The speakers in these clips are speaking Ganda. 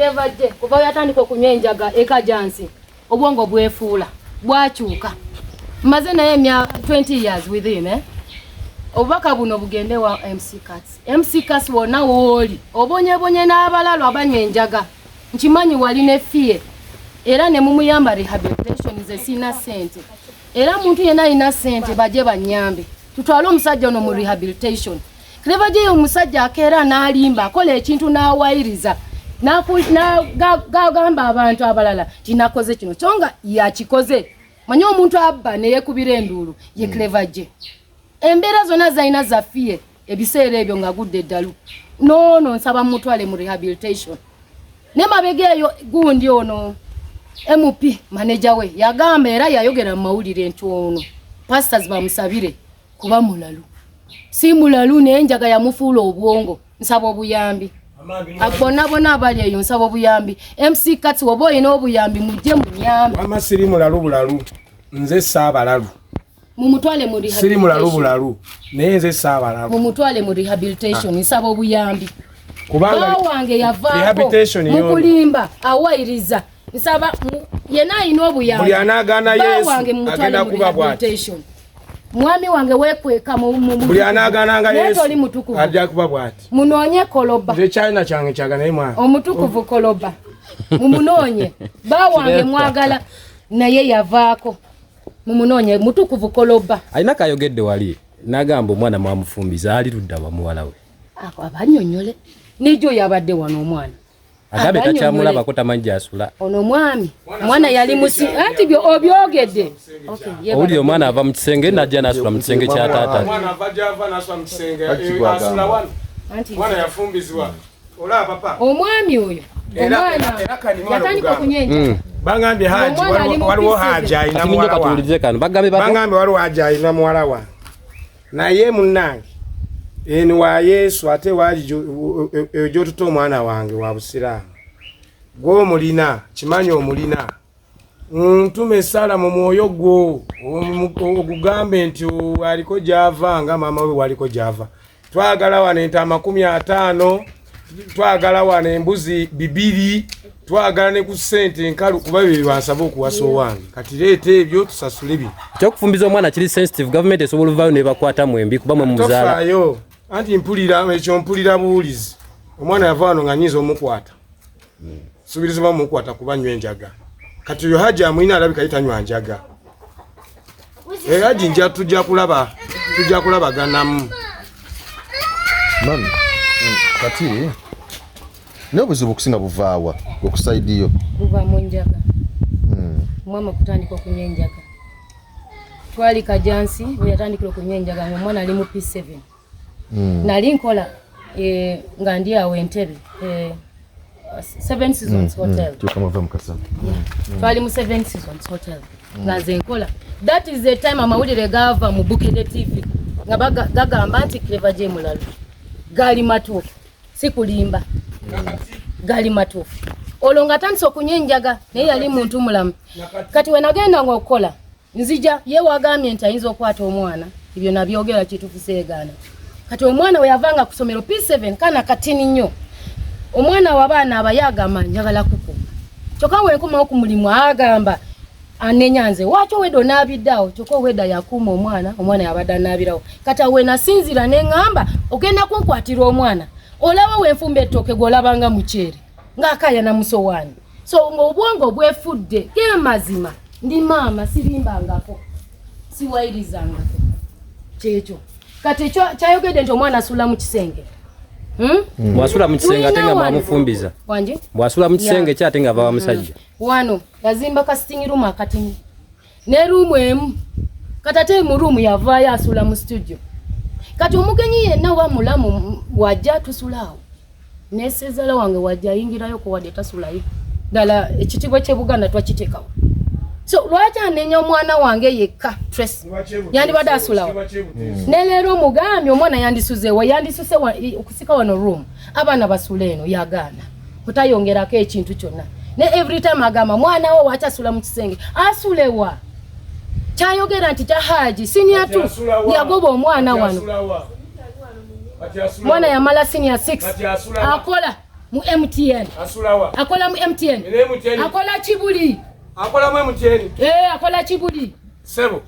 Kyevadde kuva we yatandika okunywa enjaga ekajansi obwongo bwefuula bwakyuka. Mmaze naye emya 20 years with him eh? obubaka buno bugende wa MC Cats. MC Cats wonna wooli obonyebonye n'abalalu abanywa enjaga nkimanyi wali ne fiye era ne mumuyamba rehabilitation ze sina sente era muntu yenna alina sente baje banyambe tutwale omusajja ono mu rehabilitation ne bajeyo omusajja akeera n'alimba akola ekintu n'awayiriza gagamba abantu abalala tinakoze kino kyo nga yakikoze manye omuntu abba neyekubira enduulu ye cleva hmm. gye embeera zonna zalina zafiye ebiseera ebyo nga gudde eddalu noono nsaba mumutwale mu rehabilitation ne mabega eyo gundi ono mp maneja we yagamba era yayogera mu mawulire nti ono pastors bamusabire kuba mulalu si mulalu naye enjaga yamufuula obwongo nsaba obuyambi bona bona abali eyo nsaba obuyambi mc kati oba olina obuyambi mujje munyambi ama siri mulalu bulalu nze saabalalu mumutwale mu siri mulalu bulalu naye nze saabalalu mumutwale mu rehabilitation ah. nsaba obuyambi kubanga wange yavaako mukulimba awayiriza nsaba yena alina obuyambi buli anaagaana yesu agenda kuba bwati mwami wange wekweka buli anagananga yesoli mutukuvu ajja kuba bwati munoonye koloba nze china kyange kyaga naye mwana omutukuvu koloba mumunoonye ba wange mwagala naye yavaako mumunoonye mutukuvu koloba alina kayogedde wali nagamba omwana mwamufumbiza ali ludda wa muwala we abanyonyole nejo yabadde wano omwana agabe takyamulabako tamanyi gyasula ono omwami omwana yali musi anti obyogedde owulira omwana ava mu kisenge najja nasula mu kisenge kya taata omwami oyo yatandika okunyenja mm. bagambye haji waliwo haji alina muwala wa bagambye waliwo haji alina muwala wa naye munnange eni wa yesu ate waali eyo gyotuta omwana wange wa busiraamu gwe omulina kimanyi omulina ntuma esaala mu mwoyo gwo ogugambe nti aliko gyava nga maama we waliko gyava twagala wano ente amakumi ataano twagala wano embuzi bibiri twagala ne ku sente enkalu kuba bye byebansaba okuwasa owange kati leeta ebyo tusasule bino ekyokufumbiza omwana kiri sensitive government esobola ovaayo nebakwata mwembi kuba mwe muzaalayo anti mpulira ekyo mpulira buwulizi omwana yava wano nga nyinza omukwata subirizibwa mukwata kuba nywe njaga kati yo haji amwina alabika yitanywa njaga e haji nja tujja kulaba tujja kulaba ganamu mami mm, kati naye obuzibu okusinga buvaawa okusaidiyo buva mu njaga mm. mwama okutandika okunywa enjaga twali kajansi weyatandikira okunywa enjaga ngaomwana ali mu p7 mm. nali nkola eh, nga ndi awo entebe eh, seven seasons mm, mm. hotel mm. twali mu seven seasons hotel nga nze nkola that is the time amawulire gava mu bukede tv nga gagamba nti cleva gye mulalu gali matuufu sikulimba gali matuufu olwo nga atandise okunywa enjaga naye yali muntu mulamu kati wenagenda nga okukola nzija ye wagambye nti ayinza okwata omwana ebyo nabyogera kitufu segaana kati omwana weyavanga kusomero p7 kana katini nnyo omwana wabaana abaye agamba njagala kukuma kyoka wenkomawo ku mulimu agamba anenya nze waki oweda onaabiddeawo kyoka oweda yakuuma omwana omwana yabadde anaabirawo kati awe nasinzira neŋamba ogenda kunkwatira omwana olaba wenfumba ettooke gweolabanga mukyere ngaakaya namusowaani so ng'obwongo bwefudde ge mazima ndi maama sirimbangako siwayirizangako kyekyo kati ekyo kyayogedde nti omwana asula mu kisenge hmm? Hmm. bwasula mu kisenge ate nga mwamufumbiza bwasula mu kisenge ki ate nga ava wa musajja hmm. wano yazimba kasitingi rumu akatini ne ruumu emu kati ate mu ruumu yavaayo asula mu situdio kati omugenyi yenna oba mulamu wajja tusulaawo nesezala wange wajja ayingirayo kuwadde tasulayo ddala ekitiibwa kyebuganda twakiteekawo so lwaki anenya omwana wange yekka tres yandibadde asulawo ne leero omugambye omwana yandisuzewa yandisuse okusika wano ruumu abaana basula eno yagaana otayongerako ekintu kyonna ne every time agamba mwana wo wakyasula mu kisenge asulewa kyayogera nti kya haji siniya tu yagoba omwana wano mwana yamala siniya 6 akola mu mtn akola mu mtn akola kibuli akola mu mtn eh akola kibuli sebo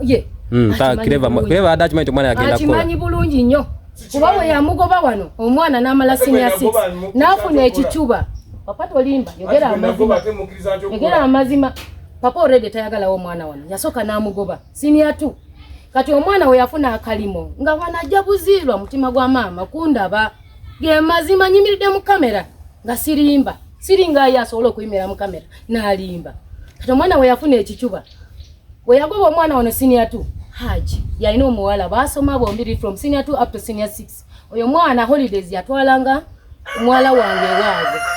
ye mm, kireva kireva ada kimanyi tomwana yagenda kola kimanyi bulungi nnyo kuba bwe yamugoba wano omwana n'amala senior six n'afuna ekicuba papa tolimba yogera amazima yogera amazima papa already tayagalawo omwana wano yasooka n'amugoba senior two kati omwana we yafuna akalimo nga wano ajja buziirwa mutima gwa maama kundaba ge mazima nyimiridde mu kamera nga sirimba siringa ye asobola okuyimira mu kamera n'alimba kati omwana we yafuna ekicuba Bwe yagoba omwana wano senior 2 Haji yalina omuwala baasoma bombiri from senior 2 up to senior 6 oyo mwana holidays yatwalanga muwala wange ewaabwe.